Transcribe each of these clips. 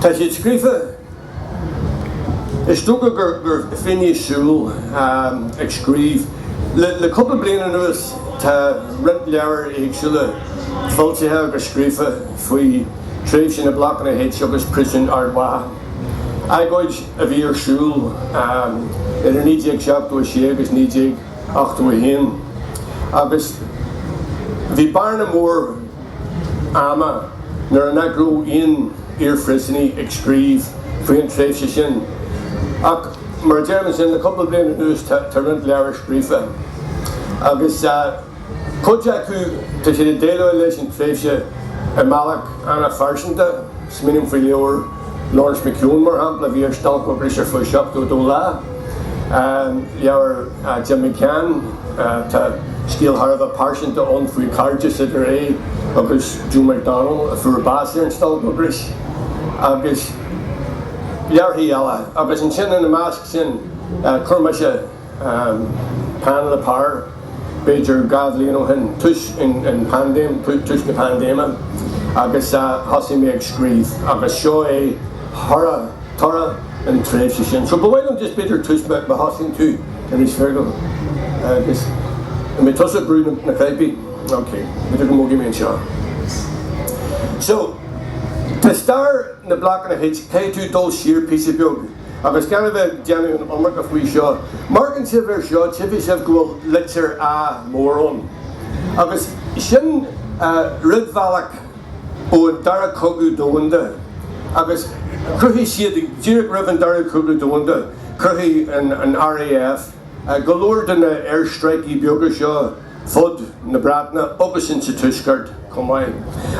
Tá siad scríofa Is dócha gur finné súl ag scríobh. Le cúpla bliain anuas tá roinnt leabhar éagsúla foilsithe agus scríofa faoi thréimhse na Blocanna H agus Príosún Ard Mhacha, agóid a bhí ar siúl idir 1976 agus 1981 agus bhí bearna mór. ama nuair nach raibh aon iarphríosúnaí ag scríobh faoi an tréimhse sin. Ach mar a deirim ansin, le cúpla bliain anuas tá roinnt leabhar scríofa agus cuid acu tá siad ag déileáil leis an tréimhse i mbealach an-phearsanta. Smaoiním faoi leabhar. Laurence McKeown, mar shampla, bhí ar stailc ocrais ar feadh 72 lá. Leabhar Jim McCann, tá scéal thar a bheith pearsanta ann faoi chairdeas idir é agus Joe McDonnell, a fuair bás ar an stailc ocrais, agus leabharthaí eile. Agus ansin, ina measc sin, chuir mise. peann le pár, b'fhéidir dhá bhliain ó shin, tús an pandéim, tús na pandéime, agus thosaigh mé ag scríobh, agus seo é thoradh, toradh an tréimhse sin. So ba mhaith liom just b'fhéidir tús, má thosaíonn tú anois, Fergal, agus an mbeidh tusa ag brú na cnaipí? Ok, b'fhéidir go mbogfaidh mé anseo. So, tá stair na Blocanna H, caithfidh tú dul siar píosa beag. Agus gan a bheith ag déanamh an iomarca faoi seo, má amharcann sibh air seo tchífidh sibh go bhfuil litir A mór ann, agus sin rúidbhealach ón Dara Cogadh Domhanda, agus chruthaigh siad, díreach roimh an Dara Cogadh Domhanda, chruthaigh an RAF go leor de na aerstráicí beaga seo fud na Breataine agus insa Tuaisceart chomh maith.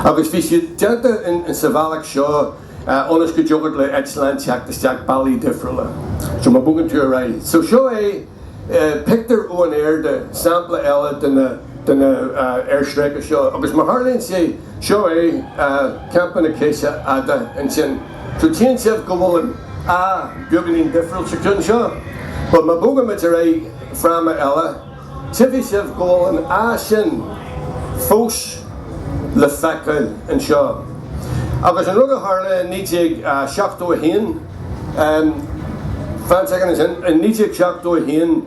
Agus bhí siad déanta insa bhealach seo, ionas go dtiocfadh le eitleáin teacht isteach bealaí difriúla. So má bhogann tú ar aghaidh. So seo é pictiúr ón aer de sampla eile de na de na aerstráice seo. Agus mar a tharlaíonn sé, seo é Campa na Ceise Fhada ansin. So tchíonn sibh go bhfuil an A beagáinín difriúil sa cheann seo. But má bhogaimid ar aghaidh fráma eile. Tchífidh sibh go bhfuil an áit sin fós le feiceáil anseo. Agus an rud a tharla i 1971, fan soicind ansin, i 1971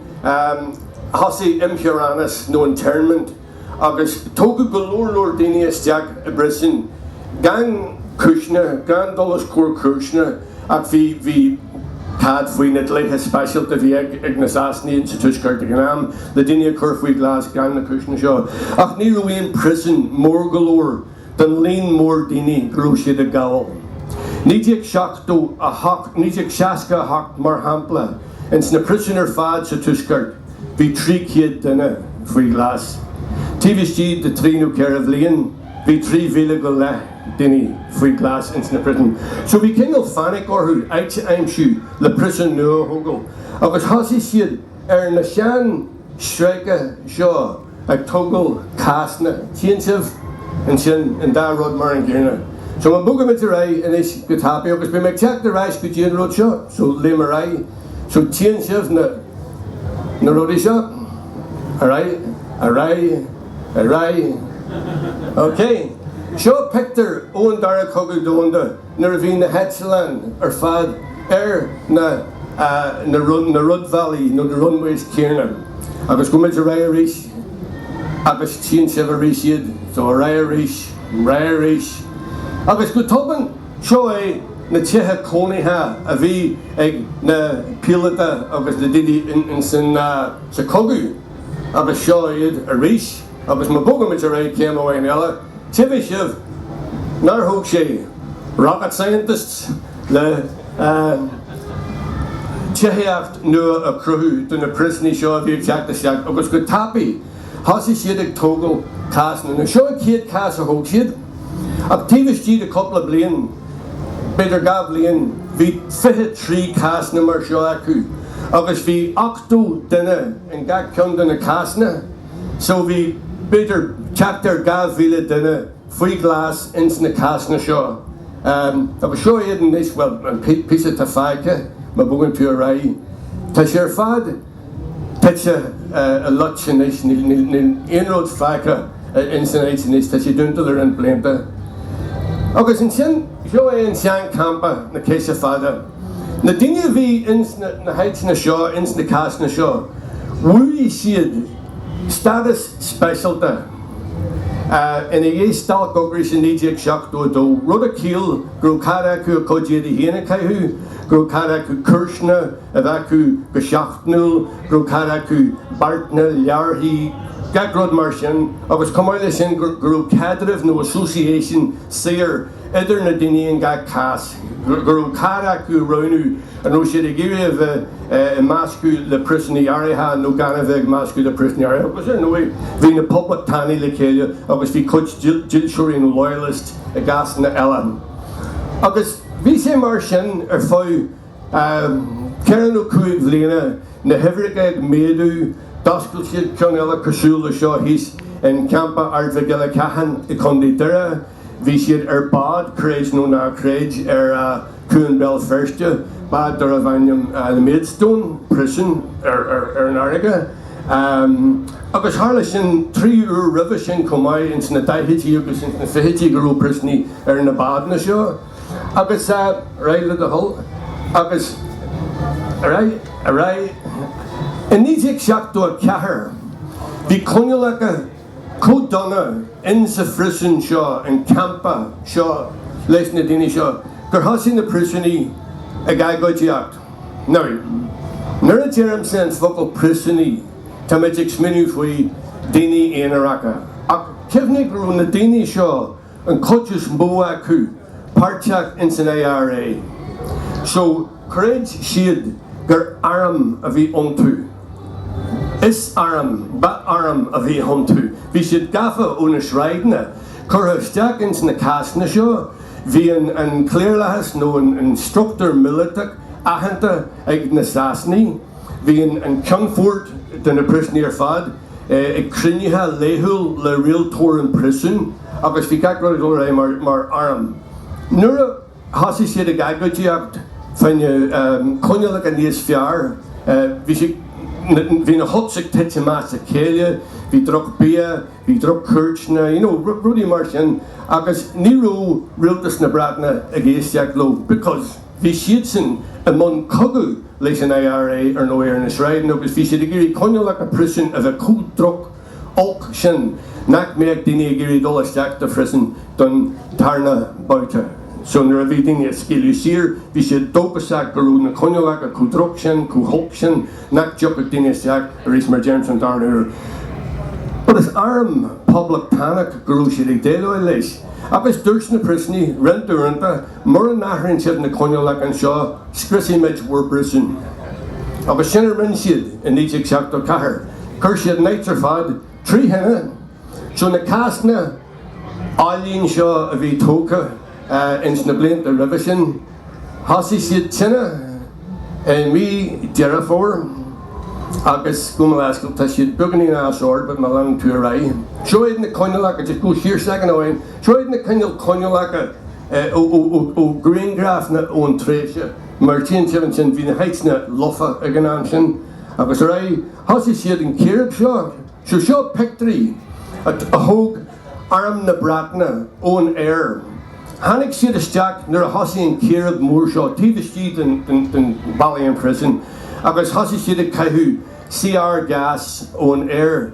thosaigh imtheorannas nó internment agus tógadh go leor leor daoine isteach i bpríosún gan cúiseanna, gan dul os comhair cúiseanna. Ach bhí, bhí cead faoi na dlíthe speisialta a bhí ag, ag na Sasanaigh sa Tuaisceart ag an am, le daoine a chur faoi ghlas gan na cúiseanna seo. Ach ní raibh aon príosún mór go leor don líon mór daoine go raibh siad ag gabháil. 1978, 1968 mar shampla, ins na príosúin ar fad sa Tuaisceart bhí trí chéad duine faoi ghlas. Taobh istigh de trí nó ceithre bhliain bhí trí mhíle go leith. daoine faoi ghlas ins na príosúin. So bhí cineál panic orthu áit a aimsiú le príosún nua a thógáil agus thosaigh siad ar na sean stráicí seo ag tógáil cásanna. Tchíonn sibh ansin an dá rud mar an gcéanna. So má bhogaimid ar aghaidh anois go tapaidh agus beidh mé ag teacht ar ais go dtí an rud seo. So léim ar aghaidh. So tchíonn sibh na na rudaí seo. Ar aghaidh, ar aghaidh. Ar aghaidh. OK. Seo pictiúr ón Dara Cogadh Domhanda nuair a bhí na heitleáin ar fad ar na, na, na rúidbhealaí nó the runways céanna. Agus gabh muid ar aghaidh arís agus tchíonn sibh arís iad. So ar aghaidh arís, ar aghaidh arís. Agus go tobann, seo é na tithe cónaithe a bhí ag na píolóta agus na daoine in, in, in, sa cogadh. Agus seo iad arís, agus má bhogaimid ar aghaidh céim amháin eile, tchífidh sibh nár thóg sé rocket scientists le tithíocht nua a chruthú do na príosúnaigh seo a bhí ag teacht isteach, agus go tapaidh thosaigh siad ag tógáil cásanna. Seo an chéad chás a thóg siad, ach taobh istigh de cúpla bliain, B'fhéidir dhá bhliain, bhí fiche trí cásanna mar seo acu agus bhí ochtó duine in gach ceann de na cásanna so bhí b'fhéidir teacht ar dhá mhíle duine faoi ghlas ins na cásanna seo agus seo iad anois, bhuel an píosa atá fágtha má bhogann tú ar aghaidh, tá sé ar fad. tite i loit anois, níl aon rud fágtha ins an áit anois, tá sí dúnta le roinnt blianta. Agus ansin seo é an sean campa, na Ceise Fada. Na daoine a bhí ins na háiteanna seo, ins na cásanna seo, bhuaigh siad stádas speisialta ina dhiaidh Stailc Ocrais i 1972, rud a chiall go raibh cead acu a gcuid éadaí féin a chaitheamh, go raibh cead acu cuairteanna, a bheith acu go seachtainiúil, go raibh cead acu beartanna, leabharthaí, gach rud mar sin, agus chomh maith leis sin go raibh caidreamh nó association saor idir na daoine in gach cás, go raibh cead acu a roghnú an raibh siad ag iarraidh a bheith ag meascadh le priosúnaigh áirithe nó gan a bheith ag meascadh le priosúnaigh áirithe. Agus ar ndóigh bhí na poblachtánaigh le chéile agus bhí cuid dílseoirí nó loyalists i gcásanna eile. Agus bhí sé mar sin ar feadh ceithre nó cúig bhliana, na huimhreacha ag méadú, d'oscail siad ceann eile cosúil leis seo thíos in Campa Ard Mhic Giollagáin i gContae Doire. Bhí siad ar bád, creid nó ná creid, ar Chuan Bhéal Feirste, bád darbh ainm The Maidstone, príosún ar an fharraige, agus tharla sin trí uair roimhe sin chomh maith, ins na daichidí agus ins na fichidí go raibh príosúnaigh ar na bádanna seo. Agus ar aghaidh le do thoil. Agus i 1974 bhí coinníollacha chomh dona in sa phríosún seo, an campa seo leis na daoine seo, gur thosaigh na príosúnaigh ag agóidíocht. Now, nuair a deirimse an focal príosúnaigh táimid ag smaoineamh faoi dhaoine aonaracha. Ach cuimhnigh go raibh na daoine seo an chuid is mó acu páirteach ins an IRA, so chreid siad gur arm a bhí iontu. Is arm, ba arm a bhí iontu. Bhí siad gafa ó na sráideanna, curtha isteach ins na cásanna seo, bhí an cliarlathas nó an struchtúr míleatach aitheanta ag na Sasanaigh, bhí an ceannfort de na príosúnaigh ar fad, ag cruinnithe laethúil le rialtóir an phríosúin agus bhí gach rud ag dul réidh mar arm. Nuair a thosaigh siad ag agóidíocht faoi na coinníollacha níos fearr, bhí siad, bhí na hutsaí tite as a chéile, bhí drochbhia, bhí droch-chuairteanna, you know, rudaí mar sin, agus ní raibh rialtas na Breataine ag éisteacht leo because. Bhí siadsan i mbun cogaidh leis an IRA, ar ndóigh, ar na sráideanna agus bhí siad ag iarraidh coinníollacha príosúin a bheith chomh droch, olc sin nach mbeadh daoine ag iarraidh dul isteach do phríosún don tarna babhta. So nuair a bhí daoine á scaoileadh saor, bhí siad dóchasach go raibh na coinníollacha chomh droch sin, chomh holc sin nach dtiocfadh daoine isteach arís mar deirimse an darna huair. But is arm poblachtánach go raibh siad ag déileáil leis agus dúirt na príosúnaigh roinnt uaireanta, Mura n-athrann siad na coinníollacha anseo, scriosfaimid bhur bpríosún. Agus sin a rinne siad i 1974. Chuir siad an áit ar fad trí thine. So na cásanna álainn seo a bhí tógtha ins na blianta roimhe sin, thosaigh siad tine i mí Deireadh Fómhair agus gabh mo leithscéal tá siad beagáinín as ord but má leanann tú ar aghaidh. Seo iad na coinníollacha, just gabh siar second ó shin, seo iad na coinníollacha. ó ghrianghrafanna ón tréimhse, mar tchíonn sibh ansin, bhí na huts lofa ag an am sin, agus ar aghaidh, thosaigh siad an chíréib seo, so seo pictiúirí a thóg arm na Breataine ón aer, tháinig siad isteach nuair a thosaigh an chíréib mór seo taobh istigh de na ballaí an phríosúin agus thosaigh siad ag caitheamh CR gas ón aer.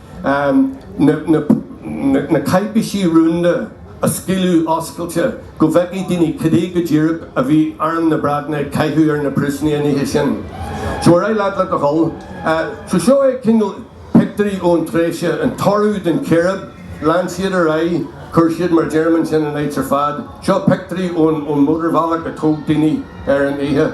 na cáipéisí rúnda a scaoileadh, a oscailt go bhfeicfeadh daoine cad é go díreach a bhí Arm na Breataine ag caitheamh ar na príosúnaigh an oíche sin. So ar aghaidh leat le do thoil. So seo é cineál pictiúirí ón tréimhse, an toradh den chíréib, lean siad ar aghaidh, chuir siad mar a deirim ansin an áit ar fad. Seo pictiúirí ón mótarbhealach a thóg daoine ar an oíche.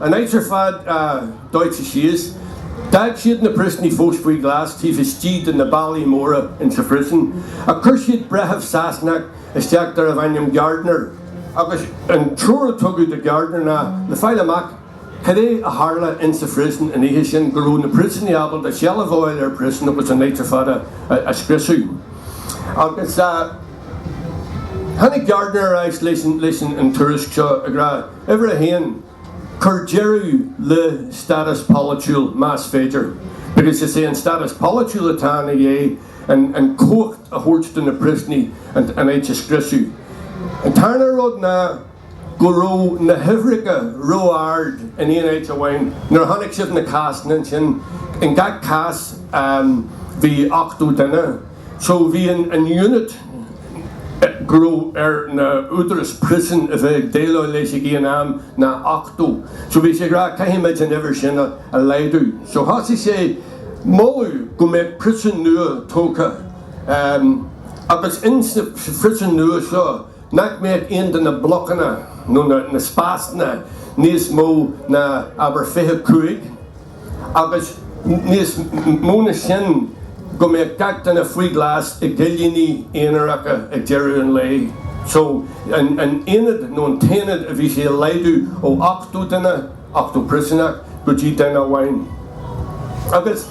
An áit ar fad dóite síos. D'fhág siad na príosúnaigh fós faoi ghlas taobh istigh de na ballaí móra insa phríosún, ach chuir siad breitheamh Sasanach isteach darbh ainm Gardiner, agus an treoir a tugadh do Gardiner ná le fáil amach cad é a tharla insa phríosún an oíche sin, go raibh na príosúnaigh ábalta seilbh a fháil ar an phríosún agus an áit ar fad a scriosadh. Agus tháinig Gardiner ar ais leis an tuairisc seo, ag rá. Uimhir a haon, cuir deireadh le stádas polaitiúil más féidir, because is é an stádas polaitiúil atá ina dhiaidh, an chumhacht a thabhairt do na príosúnaigh an áit a scriosadh. An tarna rud ná go raibh na huimhreacha ró-ard in aon áit amháin, nuair a chonaic sibh na cásanna ansin, in gach cás bhí 80 duine, So ba é an unit go raibh ar na údaráis príosúin a bheith ag déileáil leis ag aon am ná ochtó. So bhí sé ag rá caithfimid an uimhir sin a laghdú. So thosaigh sé ag moladh go mbeadh príosún nua tógtha agus insa phríosún nua seo nach mbeadh aon de na blocanna nó na spásanna níos mó ná abair 25. agus níos mó ná sin, go mbeadh gach duine faoi ghlas i gcillíní aonaracha ag deireadh an lae. So, an aonad nó an t-aonad a bhí sé a laghdú ó 80 duine, 80 príosúnach, go dtí duine amháin. Agus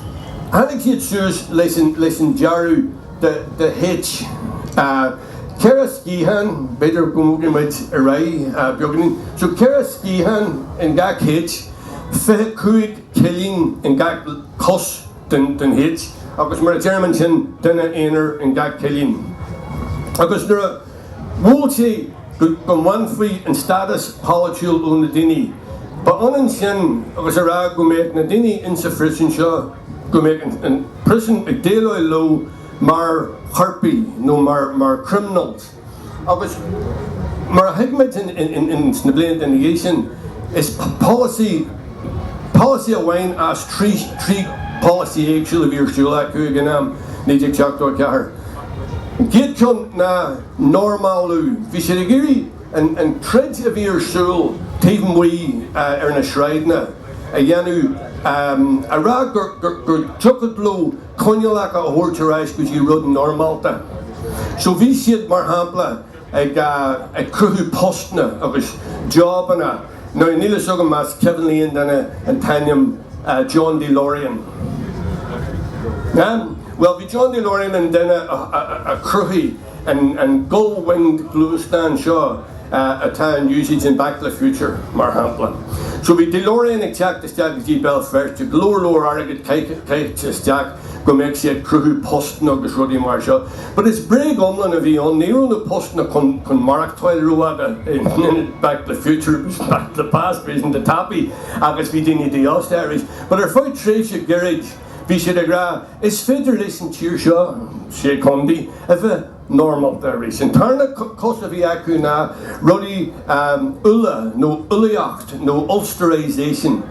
tháinig siad suas leis an dearadh de H. Ceithre sciathán, b'fhéidir go mbogfaidh muid ar aghaidh beagáinín, so ceithre sciathán in gach H. Fiche cúig cillín in gach cos den H agus mar a deirim ansin duine aonair in gach cillín. Agus nuair a mhol sé go mbainfí an stádas polaitiúil ó na daoine, ba ionann sin agus a rá go mbeadh na daoine insa phríosún seo, go mbeadh an príosún ag déileáil leo mar choirpigh nó mar criminals. Agus mar a thuig muid sna blianta ina dhiaidh sin, is polasaí amháin as trí pholasaí éagsúla a bhí ar siúl acu ag an am, 1974. An chéad cheann ná normálú. Bhí siad ag iarraidh an troid a bhí ar siúl taobh amuigh ar na sráideanna a dhéanamh, a rá gur dtiocfadh leo coinníollacha a thabhairt ar ais go dtí rud normálta. So bhí siad, mar shampla, ag ag cruthú postanna agus jobanna. Now níl fhios agam más cuimhin le aon duine an t-ainm John DeLorean. Bhuel bhí John DeLorean an duine a chruthaigh. An gull-winged gluaisteán seo atá in úsáid in Back to the Future, mar shampla. So bhí DeLorean ag teacht isteach go dtí Béal Feirste, go leor leor airgead caite isteach go mbeadh sé ag cruthú postanna agus rudaí mar seo. But is bréag iomlán a bhí ann, ní raibh na postanna chun maireachtáil rófhada in Back to the Future, it was back to the past, iontach tapaidh agus bhí daoine dífhostaithe arís. But ar feadh tréimhse gairid, Bhí siad ag rá, Is féidir leis an tír seo, Sé Chondae, a bheith normálta arís. An tarna cos a bhí acu ná rudaí Uladh nó Ulaíocht nó Ulsterisation.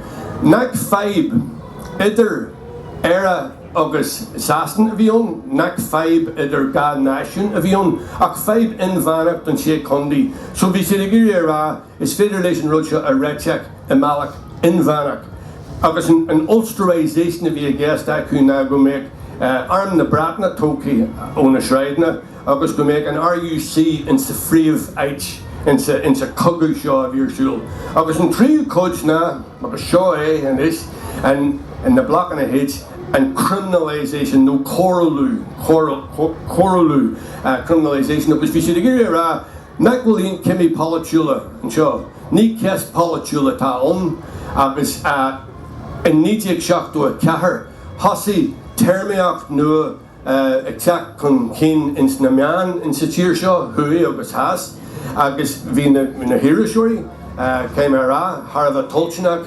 Nach fadhb idir Éire agus Sasain a bhí ann, nach fadhb idir dhá náisiún a bhí ann, ach fadhb inmheánach don Sé Chondae. So bhí siad ag iarraidh a rá, Is féidir leis an rud seo a réiteach i mbealach inmheánach agus an Ulsterisation a bhí i gceist acu ná go mbeadh arm na Breataine tógtha ó na sráideanna agus go mbeadh an RUC insa phríomháit insa chogadh seo a bhí ar siúl. Agus an tríú cuid ná, agus seo é anois an, na Blocanna H, an Criminalisation nó Coiriúlú, Coiriúlú, Criminalisation agus bhí siad ag iarraidh a rá, Nach bhfuil aon cimí polaitiúla anseo? Ní ceist pholaitiúil atá ann agus in 1974 thosaigh téarmaíocht nua ag teacht chun cinn ins na meáin insa tír seo, thuaidh agus theas, agus bhí na hiriseoirí, caithfidh mé a rá, thar a bheith toilteanach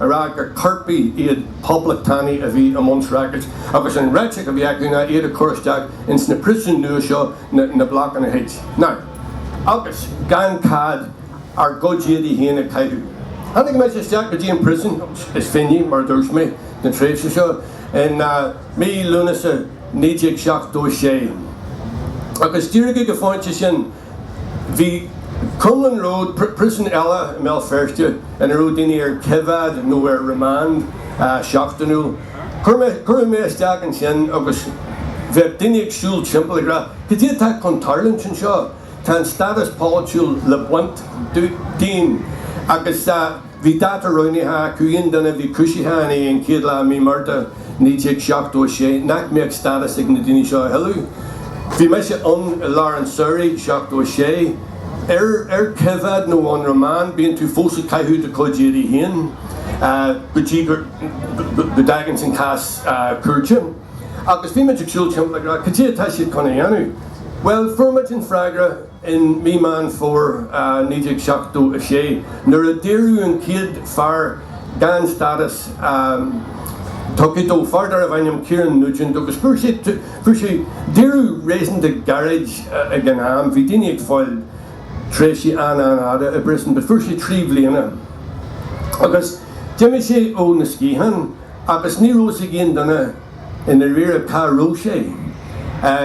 a rá gur coirpigh iad poblachtánaigh a bhí i mbun rackets, agus an réiteach a bhí acu ná iad a chur isteach ins na príosúin nua seo, na Blocanna H. Now, agus gan cead ár gcuid éadaigh féin a chaitheamh. Tháinig mise isteach go dtí an príosún, is finné, mar a dúirt mé, na tréimhse seo, in mí Lúnasa 1976. Agus díreach ag an phointe sin Bhí Crumlin Road, príosún eile i mBéal Feirste ina raibh daoine ar coimheád nó ar remand seachtainiúil. Cuireadh mé isteach ansin agus bheadh daoine ag siúl timpeall ag rá Cad é atá chun tarlúint anseo? Tá an stádas polaitiúil le baint dínn agus Bhí dáta roghnaithe acu, aon duine a bhí cúisithe i ndiaidh an chéad lá Mí Márta 1976, nach mbeadh stádas ag na daoine seo a thuilleadh. Bhí mise ann, i lár an tsamhraidh, 76. Ar, ar coimheád nó on remand, bíonn tú fós ag caitheamh do chuid éadaí féin go dtí go, go dtaganns an cás cúirte. Agus bhí muid ag siúl timpeall ag rá, cad é atá siad chun a dhéanamh? Bhuel, fuair muid an freagra, in Mí Meán Fómhair 1976 nuair a daoradh an chéad fear gan stádas tugtha dó, fear darbh ainm Kieran Nugent, agus fuair sé daoradh réasúnta gairid ag an am, bhí daoine ag fáil tréimhsí an-an-fhada i bpríosún, but fuair sé trí bliana agus d'imigh sé ó na sciatháin agus ní raibh a fhios ag aon duine. I ndáiríre, cá raibh sé?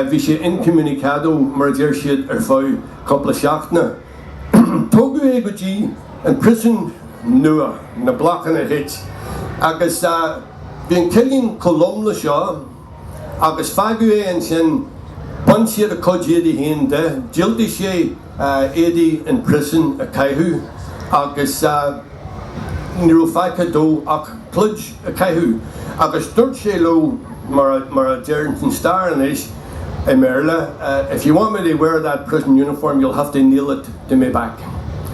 Bhí sé incommunicado, mar a deir siad, ar feadh cúpla seachtaine. Tógadh é go dtí an priosún nua, na Blocanna H, agus bhí an cillín chomh lom le seo, agus fágadh é ansin. Bhain siad a chuid éadaigh féin de. Dhiúltaigh sé éadaí an phríosúin a chaitheamh, agus. ní raibh fágtha dó ach pluid a caitheamh agus dúirt sé leo, mar a deireann an stair anois, i mBéarla, If you want me to wear that prison uniform you'll have to nail it to me back.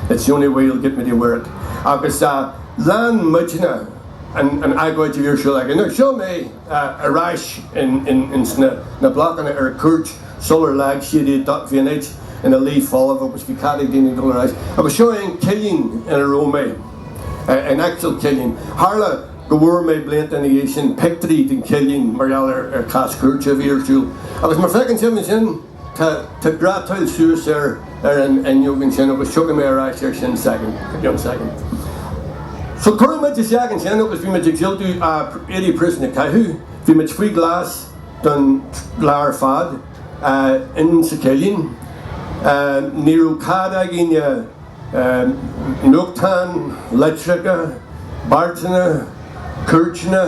It's the only way you'll get me to wear it. Agus lean muidne an agóid a bhí ar siúl againn. Seo mé! ar ais ins na blocanna ar cuairt sular leag siad iad. Bhí an áit ina luí folamh agus bhí cead ag daoine dul ar ais. Agus seo an cillín ina raibh mé, an actual cillín. Tharla go bhfuair mé, blianta ina dhiaidh sin, pictiúirí den chillín mar gheall ar chás cúirte a bhí ar siúl. Agus má feiceann sibh ansin. Tá tá grátáil suas ar ar an fhuinneog ansin agus tiocfaidh mé ar ais air sin i gceann soicind. So chuaigh muid isteach ansin agus bhí muid ag diúltú éadaí príosúin a chaitheamh, bhí muid faoi ghlas don lá ar fad eh insa cillín eh ní raibh cead againn eh nuachtáin, leitreacha, beartanna, cuairteanna,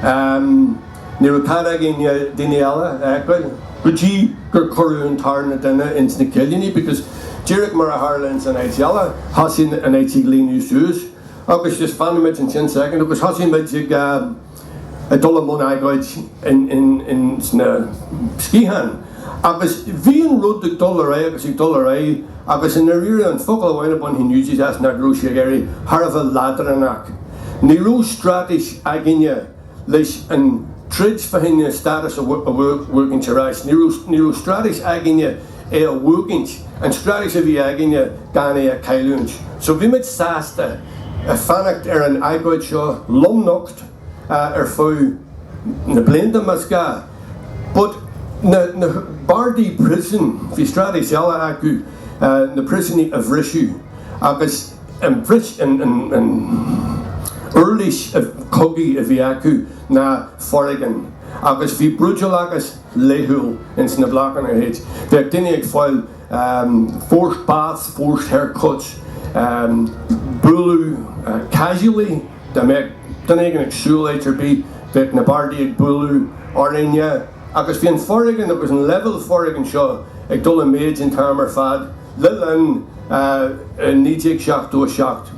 em. Ní raibh cead againne daoine eile a fheiceáil go dtí gur cuireadh an tarna duine ins na cillíní because díreach mar a tharla ins an áit eile, thosaigh an áit ag líonadh suas agus just fanann muid ansin soicind agus thosaigh muid ag dul i mbun agóid ins na sciatháin agus bhí an rud ag dul ar aghaidh agus ag dul ar aghaidh agus i ndáiríre an focal amháin a bhainfinn úsaid as ná go raibh sé ag éirí thar a bheith leadránach. Ní raibh straitéis againne. Leis an troid fá choinne an stádas a bhuachaint ar ais, ní raibh straitéis againne é a bhuachaint, an straitéis a bhí againne gan é a chailliúint. So bhí muid sásta fanacht ar an agóid seo, lomnocht ar feadh na blianta más gá, but na bardaí príosúin, bhí straitéis eile acu, na príosúnaigh a bhriseadh agus. An bhris, an uirlis chogaidh a bhí acu ná foréigean, agus bhí brúidiúlachas laethúil ins na Blocanna H. Bhíodh daoine ag fáil forced baths, forced haircuts, bualadh casually, dá mbeadh duine éigin ag siúl áit ar bith, bheadh na bardaí ag bualadh orainne, agus bhí an foréigean agus an leibhéal foréigin seo ag dul i méid an t-am ar fad. le linn 1977,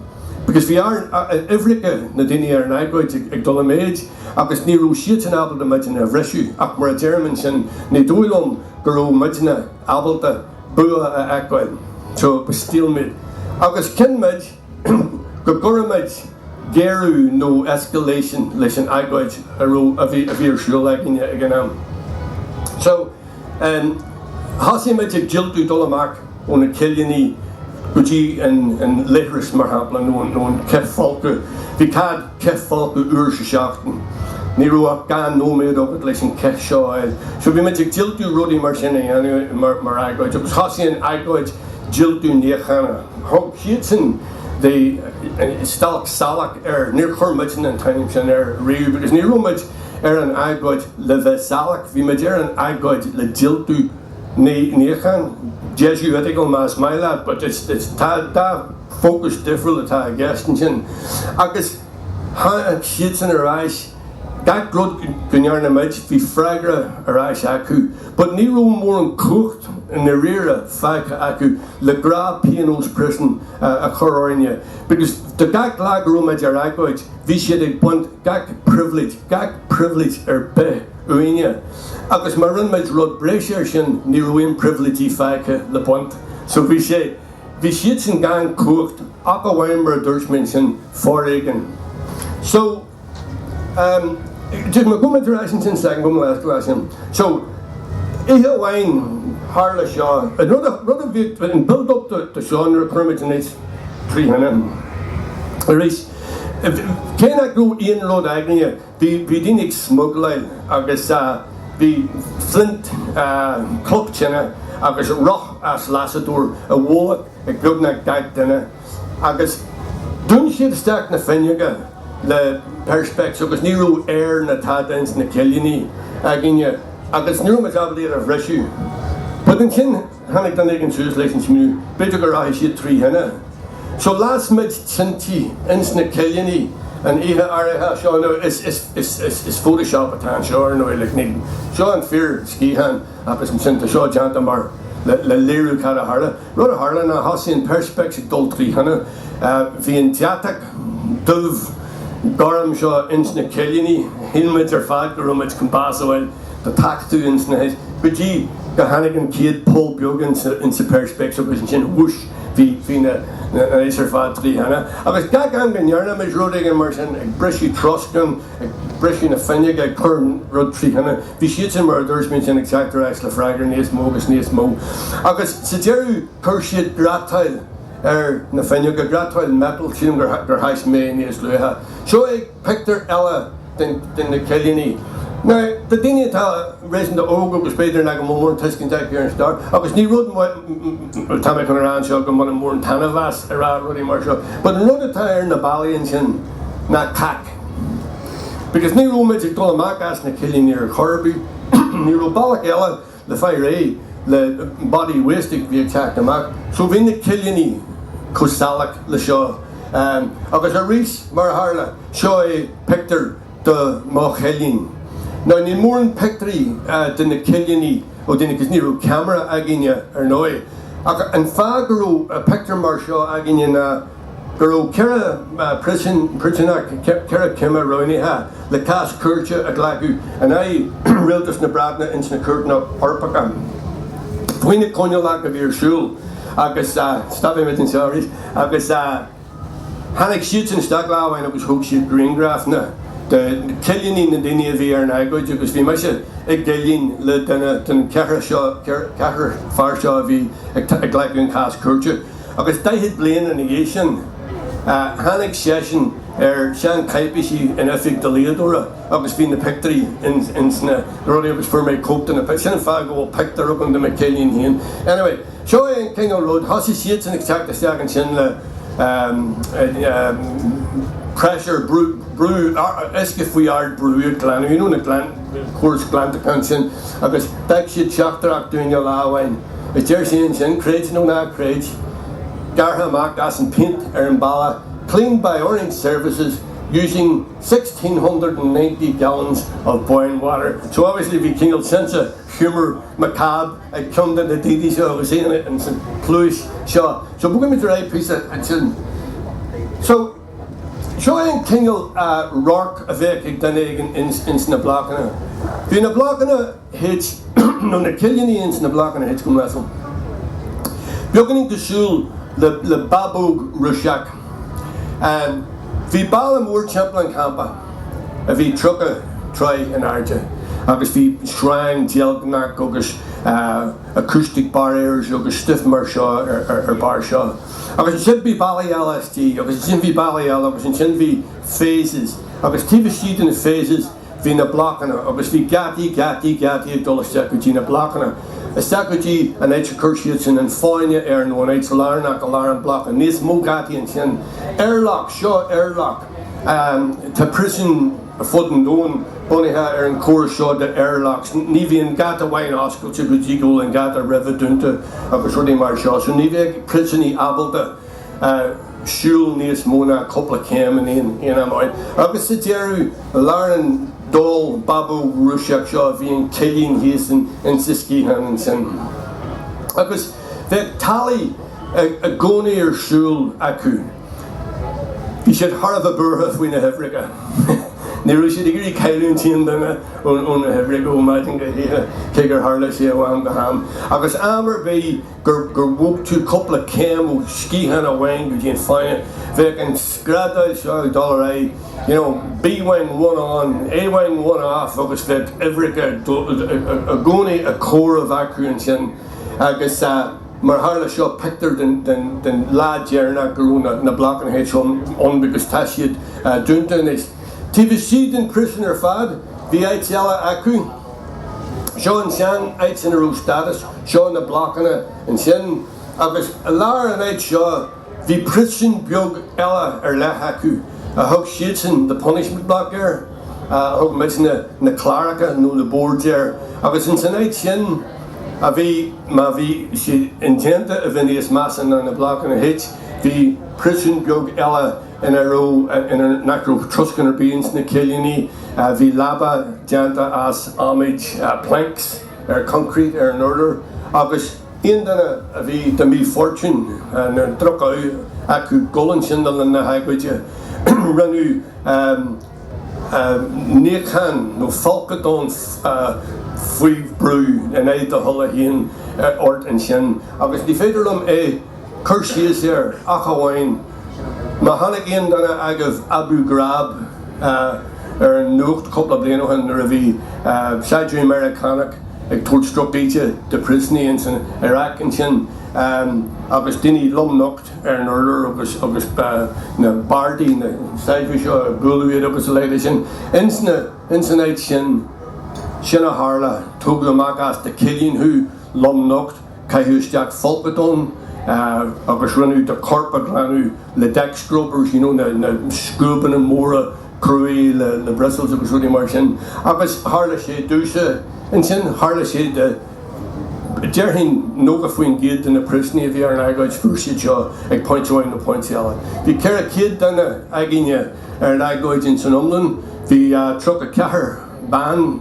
because bhí ár n-uimhreacha, na daoine ar an agóid, ag dul i méid, agus ní raibh siadsan ábalta muidne a bhriseadh, ach mar a deirim ansin, ní dóigh liom go raibh muidne ábalta bua a fheiceáil. So, it was stalemate. Agus chinn muid. go gcuirfeadh muid géarú nó escalation leis an agóid a raibh, a bhí, a bhí ar siúl againne ag an am. So, em, thosaigh muid ag diultú dul amach ó na cillíní go dtí an, an leithreas, mar shampla, nó an, nó an cithfholcadh. Bhí cead. cithfholcadh uair sa seachtain. Ní raibh ach dhá nóiméad agat leis an chith seo a fháil. So bhí muid ag diultú rudaí mar sin a dhéanamh mar mar agóid agus thosaigh an agóid diultú níochána. Thug siadsan the stailc salach air. Níor chuir muidne an t-ainm sin air riamh because ní raibh muid ar an agóid le bheith salach, bhí muid ar an agóid le diultú níocháin. Jesuitical más maith leat but it's it's tá tá. fócas difriúil atá i gceist ansin agus tháinig siadsan ar ais, gach rud go ndearna muid, bhí freagra ar ais acu but ní raibh mórán cumhacht i ndairíre fágtha acu le gnáthphionós príosúin a chur orainne because do gach lá go raibh muid ar agóid bhí siad ag baint gach pribhléid, gach pribhléid ar bith uainne agus má rinne muid rud breise ar sin ní raibh aon pribhléidí fágtha le baint so bhí sé. Bhí siadsan gan chumhacht ach amháin mar a dúirt mé ansin, foréigean. So, ehm, just my comment to that since second go last to that sin. So, oíche amháin tharla seo, an rud a, rud a bhí an build up to, to seo nuair a chuir muid an áit trí thine. Arís, cé nach raibh aon rud againne, Bhí daoine ag smugláil agus bhí flint, cloch tine agus roth as lasadóir i bhfolach ag beagnach gach duine. Agus dún siad isteach na fuinneoga le perspex agus ní raibh aer ná tada ins na cillíní againne agus ní raibh muid ábalta iad a bhriseadh. But ansin. Tháinig duine éigin suas leis an smaoineamh. B'fhéidir go rachaidh siad trí thine. So las muid tintí ins na cillíní an oíche áirithe seo. Now is, is, is, is, is photoshop atá anseo ar ndóigh, like níl, seo an fíor sciathán ach is ansin, tá seo déanta mar, le, le léiriú cad a tharla. Rud a tharla ná thosaigh an perspex ag dul trí thine. Bhí an deatach dubh gorm seo ins na cillíní, shíl muid ar fad go raibh muid chun bás a fháil. de thachtadh ins na hais go dtí gur tháinig an chéad poll beag ins an perspex agus ansin whoosh bhí na hais ar fad trí thine agus gach am go ndéanaimis rud éigin mar sin ag briseadh troscán ag briseadh na fuinneoga ag cur rud trí thine bhí siadsan mar a dúirt mé ansin ag teacht ar ais le freagra níos mó agus níos mó agus sa deireadh chuir siad grátáil ar na fuinneoga grátáil metal sílim gur thaispeáin mé níos luaithe seo ag pictiúr eile de na cillíní. Now, do dhaoine atá réasúnta óg agus b'fhéidir nach bhfuil mórán tuiscint acu ar an stair, agus ní rud é atá mé chun a rá anseo go mbainim mórán taitneamh as a rá rudaí mar seo, but an rud atá ar na ballaí ansin ná cac. Because ní raibh muid ag dul amach as na cillíní ar chor ar bith, ní raibh bealach eile, le fáil réidh le body wastage bhí ag teacht amach so bhí na cillíní chomh salach le seo agus arís mar a tharla, seo é pictiúr de mo chillín. Now níl mórán pictiúirí de na cillíní ó dhaoine cos ní raibh ceamara againne ar ndóigh ach an fáth go raibh pictiúr mar seo againne ná, go raibh ceithre phriosúnach, ceithre cime roghnaithe le cás cúirte a ghlacadh in aghaidh rialtas na Breataine ins na cúirteanna Eorpacha faoi na coinníollacha a bhí ar siúl agus stop muid an t-aon slí agus tháinig siadsan isteach lá amháin agus thóg siad grianghrafanna de na cillíní, na daoine a bhí ar an agóid agus bhí mise i gcillín le duine den cheithre fear seo a bhí ag glacadh an cás cúirte. agus daichead bliain ina dhiaidh sin tháinig seisean ar shean-cháipéisí in oifig dlíodóra agus bhí na pictiúirí ins na rudaí agus fuair mé cóip de na pictiúirí, sin an fáth go bhfuil pictiúir agam de mo chillín féin. Anyway, seo é an Kingo Road, thosaigh siadsan ag teacht isteach ansin le pressure, brú uisce faoi ard brú ag glanadh, you know na glan, córas glantacháin sin agus d'fhág siad teachtaireacht dúinn lá amháin. A deir sé ansin, creid nó ná creid, gearrtha amach as an phéint ar an balla, cleaned by Orient Services using sixteen hundred and ninety gallons of boiling water. So obviously bhí cineál sense of humour macabre ag ceann de na daoine seo agus é insan phluid seo. So bogfaidh muid ar aghaidh píosa ansin. So seo é an cineál radhairc a bheadh ag duine ins na blocanna. Bhí na blocanna. H nó na cillíní ins na blocanna H go mb'fhéidir. Beaganín cosúil le le babóg Ruiseach. Bhí balla mór timpeall an campa a bhí tríocha troigh in airde agus bhí sreang deilgneach agus acoustic barriers agus stuff mar seo ar barr seo. Agus ansin bhí ballaí eile istigh agus ansin bhí ballaí eile agus ansin bhí phases agus taobh istigh de na phases, bhí na blocanna agus bhí geataí, geataí, geataí ag dul isteach go dtí na blocanna, isteach go dtí an áit a chuir siad sin an fáinne air nó an áit lárnach i lár na mblocanna, níos mó geataí ansin, airlock, seo airlock, tá príosúin ar fud an domhain bunaithe ar an chóras seo de airlocks, ní bhíonn geata amháin oscailte go dtí go bhfuil an geata roimhe dúnta agus rudaí mar seo, so ní bheadh príosúnaí ábalta. siúl níos mó ná cúpla céim in aon am amháin, agus sa deireadh, i lár an doll babóg Rúiseach seo, bhí an cillín thíos insa sciathán ansin. Agus bheadh tally i gcónaí ar siúl acu. Bhí siad thar a bheith buartha faoi na huimhreacha. Ní raibh siad ag iarraidh cailliúint aon duine ó na huimhreacha ó mhaidin go hoíche, cé gur tharla sé ó am go ham. Agus am ar bith. gur gur bhog tú cúpla céim ó sciathán amháin go dtí an fáinne, bheadh an screadaíl seo ag dul ar aghaidh, you know, B-wing one on, A-wing one off agus bheadh uimhreacha i gcónaí ag comhaireamh acu ansin agus mar tharla seo pictiúr den den den lá deireanach go raibh na na Blocanna H ann because tá siad dúnta anois. Taobh istigh den phríosún ar fad bhí áit eile acu. Seo ansin áit ina raibh stádas, seo na blocanna ansin agus i lár an áit seo bhí príosún beag eile ar leith acu a thug siadsan the punishment block air, thug muidne na cláracha nó na boards air agus ins an áit sin a bhí, má bhí siad indéanta a bheith níos measa ná na blocanna H, bhí príosún beag eile. ina raibh, ina nach raibh troscán ar bith ins na cillíní. Bhí leaba déanta as adhmaid, planks, ar concrete ar an urlár agus aon duine a bhí de mhí-fhortún nó droch-ádh acu dhul ansin le linn na hagóide, rinneadh níochán nó folcadán faoi bhrú in aghaidh do thola féin ort ansin agus ní féidir liom é. cur síos air ach amháin má chonaic aon duine agaibh Abu Ghraib ar an nuacht cúpla bliain ó shin nuair a bhí saighdiúirí Meiriceánach ag tabhairt drochíde do phriosúnaigh ins an Iraq ansin agus daoine lom nocht ar an urlár agus na bardaí, na saighdiúirí seo, ag bualadh iad agus a leithéid de sin. Ins an áit sin, sin a tharla, tógadh amach as do chillín thú, lom nocht. Caitheadh isteach folcadán agus rinneadh do chorp a ghlanadh le deck scrubbers, you know, na scuabanna móra cruaidh le bristles agus rudaí mar sin. Agus tharla sé i dtús, ansin tharla sé i, déarfainn 90% de na príosúnaigh a bhí ar an agóid, fuair siad seo ag pointe amháin nó pointe eile. Bhí 400 duine againne ar an agóid insan iomlán, bhí 34. ban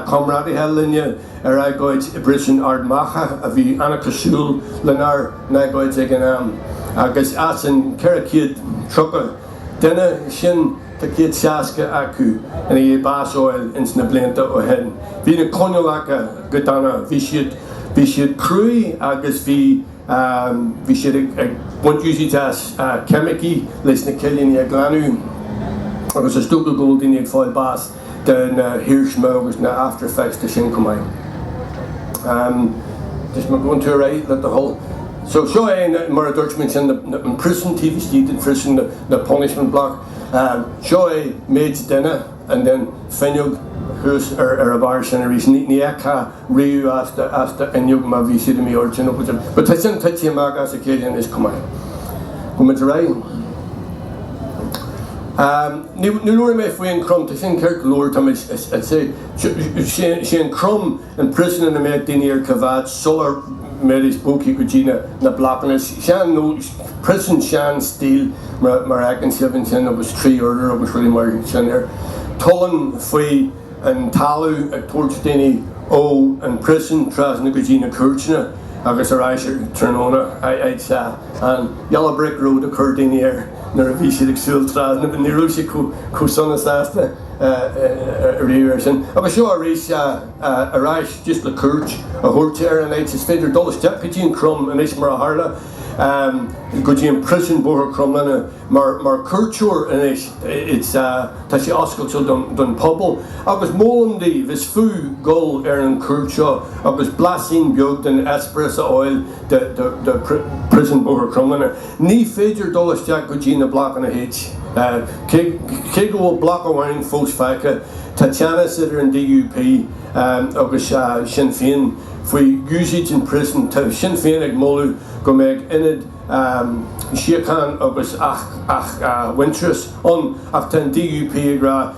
chomrádaithe linne ar agóid i bPríosún Ard Mhacha a bhí an-chosúil lenár n-agóid ag an am, agus as an 430 duine sin, tá 160 acu i ndiaidh bás a fháil ins na blianta ó shin. Bhí na coinníollacha go dona, bhí siad cruaidh agus bhí. Bhí siad ag baint úsaíd as ceimicí leis na cillíní a ghlanadh agus is dócha go bhfuil daoine ag fáil bás de na hiarsma agus na after effects de sin chomh maith. Just me going to right le do thoil. So seo é mar a dúirt mé ansin an príosún taobh istigh den phríosún, na punishment block. Seo é méid duine. and then fuinneog thuas ar a bharr sin arís ní fheicfeá riamh as do as do fhuinneog má bhí tú i m'airde nó But tá sin titithe amach as a chéile anois chomh maith. Gabh muid ar aghaidh. Ahm ní ní labhair mé faoi an Crum tá sin ceart go leor táimid ag ag seo an Crum An prison ina mbeadh daoine ar coimeád sular mbeidís bogtha go dtí na blocanna sean nó prison seanstíl mar fheiceann sibh ansin agus trí urlár agus rudaí mar sin air. Tollán faoi an talamh ag tabhairt daoine ó an prison trasna go dtí na cúirteanna agus ar ais ar tráthnóna. Aye sea, an yellow brick road a chuir daoine air nuair a bhí siad ag siúl trasna but ní raibh sé chomh sona sásta. riamh air sin. Agus seo arís ar ais just le cuairt a thabhairt ar an áit, is féidir dul isteach go dtí an Crum anois mar a tharla, go dtí an prison, Bóthar Chromghlinne, mar chuairteoir anois. Tá sé oscailte don phobal agus molaim daoibh, is fiú dul ar an chuairt seo agus blaisín beag den eispéireas a fháil de prison Bhóthar Chromghlinne. Ní féidir dul isteach go dtí na Blocanna H, cé go bhfuil bloc amháin fós fágtha. Tá teannas idir an DUP agus Sinn Féin faoi úsáid an prison. Tá Sinn Féin ag moladh go mbeadh Ionad Síocháin agus Athmhuintearais ann ach tá an DUP ag rá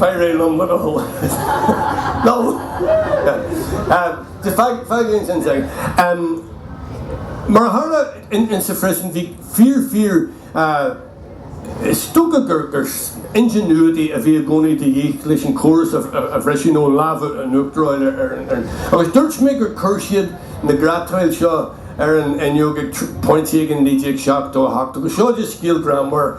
D'éirigh liom rud a Mar a tharla insa phriosún, bhí fíor, fíor is dócha gur ingenuity a bhí i gcónaí de dhíth leis an chóras a bhriseadh nó lámh in uachtar a fháil Agus dúirt mé gur chuir siad na grátáil seo ar an fhuinneog ag pointe éigin 1978 agus seo scéal greannmhar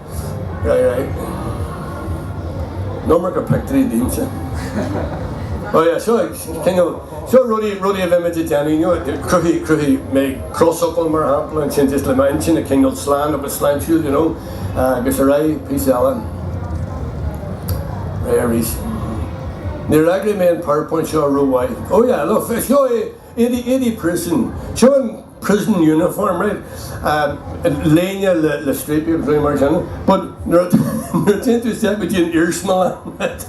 Right, right. Iomarca pictiúirí díomsa. Ó yeah, seo cineál, seo rudaí, rudaí a bhí muid ag déanamh, you know, cruthaigh, cruthaigh mé crosfhocal mar shampla ansin just le m'intinn, a choinneáil slán agus sláintiúil, you know, agus ar aghaidh píosa eile. Ar aghaidh arís. Níor eagraigh mé an powerpoint seo ró-mhaith. Ó yeah, look, seo é, éadaí, éadaí prison. Seo an. prison uniform, right? léine le striapaí agus rudaí mar sin but nuair a théann tú isteach go dtí an iarsmalann right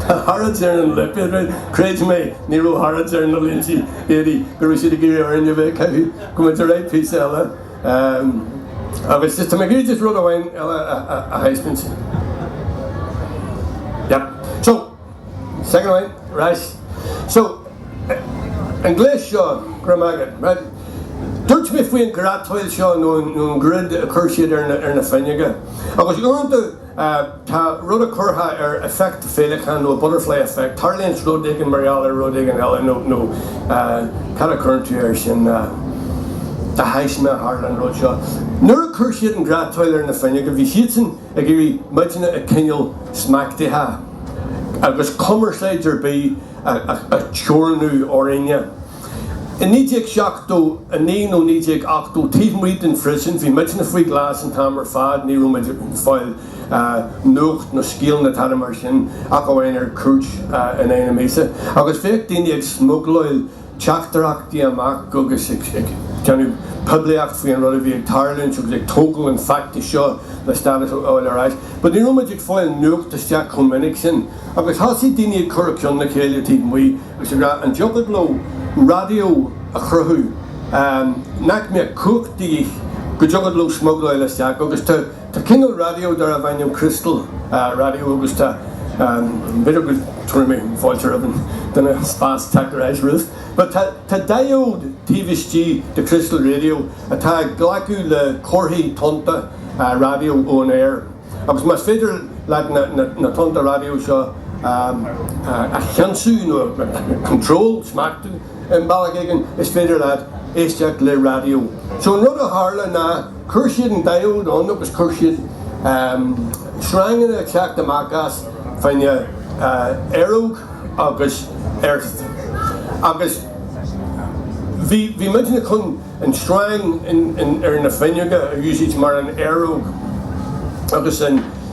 tá Harrods ar an lipéad right creid mé ní raibh Harrods ar na léinte, éadaí go raibh siad ag iarraidh orainn a bheith caitheadh gabh muid ar aghaidh píosa eile agus just tá mé ag iarraidh just rud amháin eile a thaispeáint yep so Second away, right. So, an gléas seo, go raibh maith agat, right. Dúirt mé faoin grátáil seo nó an grid a chuir siad ar na fuinneoga. Agus uaireanta tá rud a gcuirtear effect féileacán nó butterfly effect, tarlaíonns rud éigin mar gheall ar rud éigin eile nó nó cad a chuireann tú air sin, de thaisme a tharla an rud seo. Nuair a chuir siad an grátáil ar na fuinneoga bhí siadsan Ag iarraidh muidne a choinneáil smachtaithe agus cumarsáid ar bith a theorannú orainne. I 1979 nó 1980, taobh amuigh den phríosún, bhí muidne faoi ghlas an t-am ar fad, ní raibh muid ag fáil nuacht nó scéala ná tada mar sin ach amháin ar cuairt in aghaidh na míosa. Agus bhíodh daoine ag smugláil teachtaireachtaí amach agus ag déanamh poiblíocht faoi an rud a bhí ag tarlúint agus ag tógáil an feachtas seo le stádas a fháil ar ais. But ní raibh muid ag fáil nuacht isteach chomh minic sin agus thosaigh daoine ag cur a gceann le chéile taobh amuigh agus ag rá an dtiocfadh leo raidió a chruthú nach mbeadh cumhacht de dhíth go dtiocfadh leo smugláil isteach agus tá Tá cineál raidió darbh ainm Crystal Radio agus tá b'fhéidir go dtabharfaidh mé fáilte roimh an duine an spás teacht ar ais Ruth but tá tá diode taobh istigh de Crystal Radio atá ag glacadh le comharthaí tonnta raidió ón aer agus más féidir leat na na tonnta raidió seo a cheansú nó a control smachtú. I mbealach éigin is féidir leat éisteacht le raidió. So an rud a tharla ná chuir siad an diode ann agus chuir siad sreanganna ag teacht amach as fá choinne aeróg agus earth agus bhí muidne chun an sreang ar na fuinneoga a úsáid mar an aeróg agus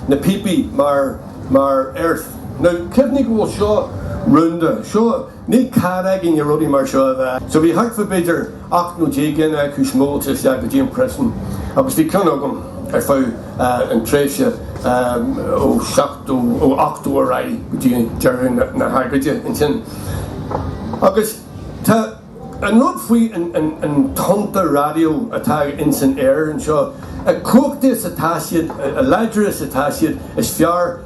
na píopaí mar earth. Now cuimhnigh go bhfuil seo rúnda, seo. Níl cead againne rudaí mar seo. So bhí thart fá b'fhéidir ocht nó deich gcinn acu smugláilte isteach go dtí an príosún agus bhí ceann agam ar feadh an tréimhse ó seachtó, ó ochtó ar aghaidh go dtí deireadh na hagóide ansin. Agus tá an rud faoi an tonnta raidió atá insan aer anseo, a cumhachtaí is atá siad, a láidre is atá siad, is fearr.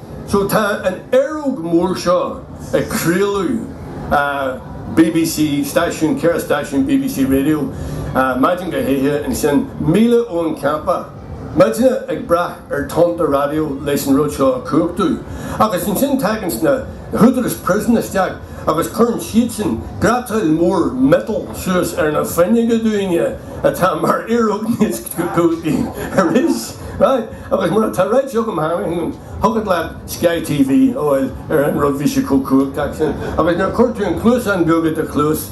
So tá an aeróg mór seo ag craoladh bbc stáisiún, ceithre stáisiún bbc Radio, maidin go hoíche, ansin míle ón campa muidne ag brath ar tonnta raidió leis an rud seo a chumhachtú. Agus ansin taganns na húdaráis prison isteach agus cuireann siadsan grátáil mór miotail suas ar na fuinneoga dúinne atá mar aeróg níos Aris, Right, agus mura tá right joke tharraing chugat leat Sky TV a fháil ar an rud bhí sé chomh cumhachtach sin agus nuair a chuir tú an cluasán beag i do chluas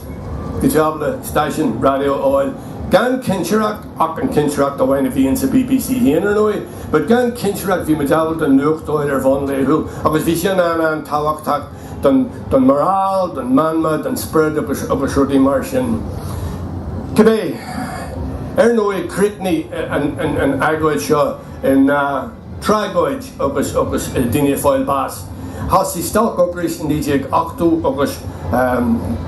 go dtiocfadh leat stáisiún raidió a fháil gan cinsireacht ach an chinsireacht amháin a bhíonn sa bbc féin ar ndóigh but gan cinsireacht bhí muid ag fáil an nuacht ar bhonn laethúil agus bhí sin an- an-tábhachtach don don morale, don meanma, don spiorad agus agus rudaí mar sin. Cibé, ar ndóigh, críochnaigh an an an agóid seo ina tragóid agus agus daoine ag fáil bás. Thosaigh stailc ocrais i 1980 agus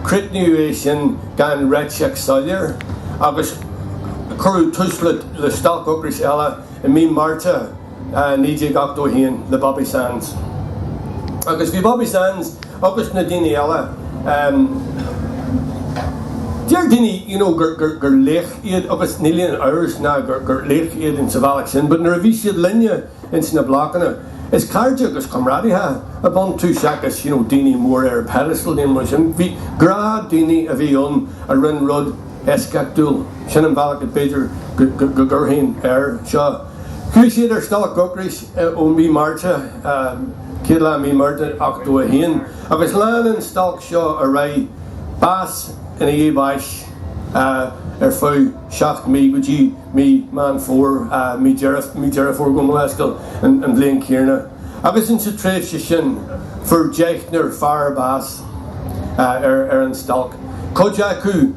críochnaíodh é sin gan réiteach soiléir agus cuireadh tús le le stailc ocrais eile i mí Márta. 1981 le Bobby Sands. Agus bhí Bobby Sands agus na daoine eile, em, deir daoine, you know, gur, gur, gur laoch iad agus níl aon amhras ná gur, gur laoch iad in sa bhealach sin, but nuair a bhí siad linne in sna Blocanna, is cairde agus comrádaithe ab iontu seachas, you know, daoine mór ar pedestal nó rud mar sin. Gnáthdhaoine a bhí ann a rinne rud eisceachtúil. Sin an bhealach a b'fhéidir go, go, go gcuirfinn air seo. Chuaigh siad ar stailc ocrais ó Mhí Márta, céad lá Mí Márta 81, agus lean an stailc seo ar aghaidh, bás i ndiaidh báis, ar feadh seacht mí, go dtí Mí Meán Fómhair, Mí Dheireadh Fómhair gabh mo leithscéal, an bhliain chéanna. Agus in sa tréimhse sin fuair deichniúr fear bás ar an stailc, cuid acu,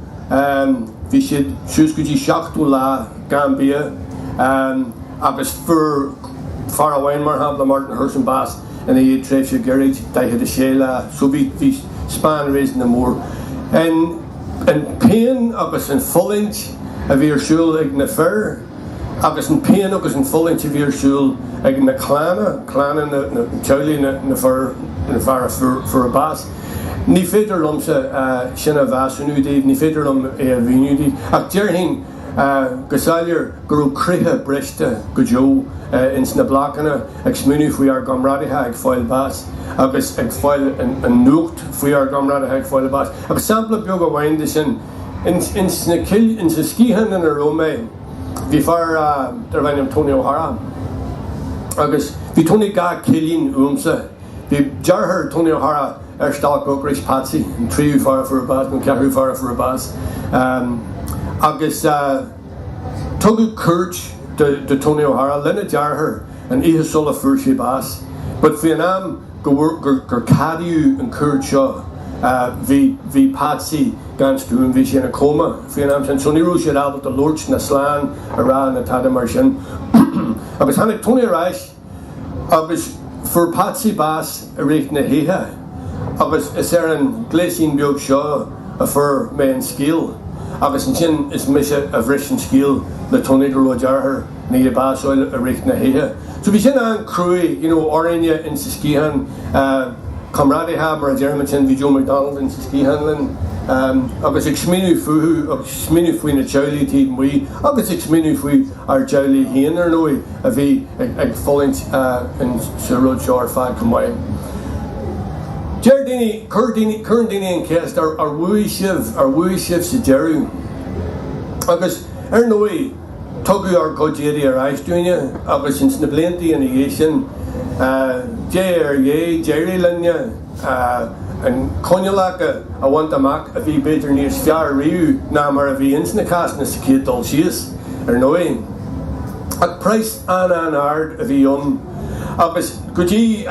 Bhí siad suas go dtí seachtó lá gan bhia agus fuair fear amháin, mar shampla, Martin Hurson, bás i ndiaidh tréimhse ghairid, 46 lá. So bhí span réasúnta mór. An phian agus an fulaingt a bhí ar siúl ag na fir agus an phian agus an fulaingt a bhí ar siúl ag na clanna, clanna na teaghlaigh na bhfear a fuair bás. Ní féidir liomsa sin a mheasúnú daoibh, ní féidir liom é a mhíniú daoibh, ach déarfainn go soiléir go raibh croíthe briste go deo ins na Blocanna ag smaoineamh faoi ár gcomrádaithe ag fáil bás agus ag fáil an nuacht faoi ár gcomrádaithe ag fáil bás. Agus sampla beag amháin de sin, ins na Cillí, ins an sciathán ina raibh mé, bhí fear darb ainm Tony O'Hara agus bhí Tony dhá chillín uaimsa. Bhí deartháir Tony O'Hara ar stailc ocrais, Patsy, an tríú fear a fuair bás, nó an ceathrú fear a fuair bás, agus tugadh cuairt do Tony O'Hara lena dheartháir an oíche sula fuair sé bás. but faoin am gur ceadaíodh an cuairt seo, bhí Patsy gan stuaim, bhí sé ina coma faoin am sin, so ní raibh siad ábalta labhairt ná slán a rá ná tada mar sin. Agus tháinig Tony ar ais. Agus fuair Patsy bás i rith na hoíche agus is ar an ghléasín beag seo a fuair mé an scéal agus ansin is mise a bhris an scéal le Tony go raibh a dheartháir i ndiaidh bás a fháil i rith na hoíche. So bhí sin an-chruaidh, you know, orainne insa sciathán, comrádaithe mar a deirim ansin, bhí Joe McDonnell insa sciathán linn agus ag smaoineamh fúthu agus ag smaoineamh faoi na teaghlaigh taobh amuigh agus ag smaoineamh faoi ár dteaghlaigh féin, ar ndóigh, a bhí ag fulaingt sa rud seo ar fad chomh maith. Deir daoine, cuireann daoine an cheist, ar bhuaigh sibh, ar bhuaigh sibh sa deireadh? Agus, ar ndóigh, tugadh ár gcuid éadaí ar ais dúinne agus ins na blianta ina dhiaidh sin, diaidh ar dhiaidh, d'éirigh linne. Na coinníollacha a bhaint amach a bhí b'fhéidir níos fearr riamh ná mar a bhí ins na cásanna sa chéad dul síos, ar ndóigh. Ach praghas an-an-ard a bhí ann agus go dtí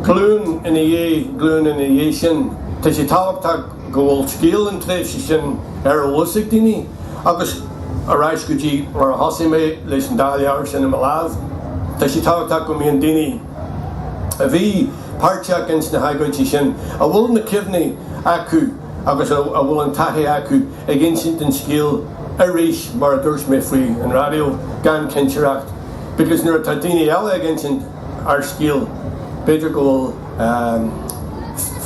glúin ina dhiaidh glúine ina dhiaidh sin tá sé tábhachtach go bhfuil scéal an tréimhse sin ar eolas ag daoine agus ar ais go dtí mar a thosaigh mé leis an dá leabhar sin i mo lámh tá sé tábhachtach go mbíonn daoine a bhí páirteach ins na hagóidí sin, a bhfuil na cuimhní acu agus a bhfuil an taithí acu ag insint an scéil arís mar a dúirt mé faoi an raidió, gan cinsireacht, because nuair atá daoine eile ag insint ár scéil b'fhéidir go bhfuil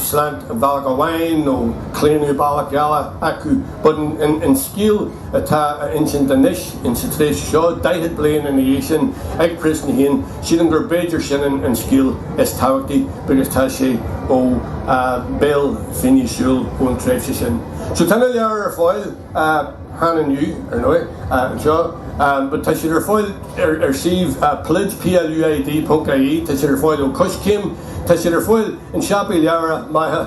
slant bealach amháin nó claonadh bealach eile acu but an scéal atá á insint anois insa tréimhse seo, daichead bliain ina dhiaidh sin, ag príosúnaigh féin, sílim gur b'fhéidir sin an scéal is tábhachtaí because tá sé ó bhéal finnéithe súl ón tréimhse sin. So tá na leabhair ar fáil againn inniu, ar ndóigh, anseo but tá siad ar fáil ar ar suíomh pluid, P-L-U-I-D ponc I-E, tá siad ar fáil ó Coiscéim, tá siad ar fáil in siopaí leabhar maithe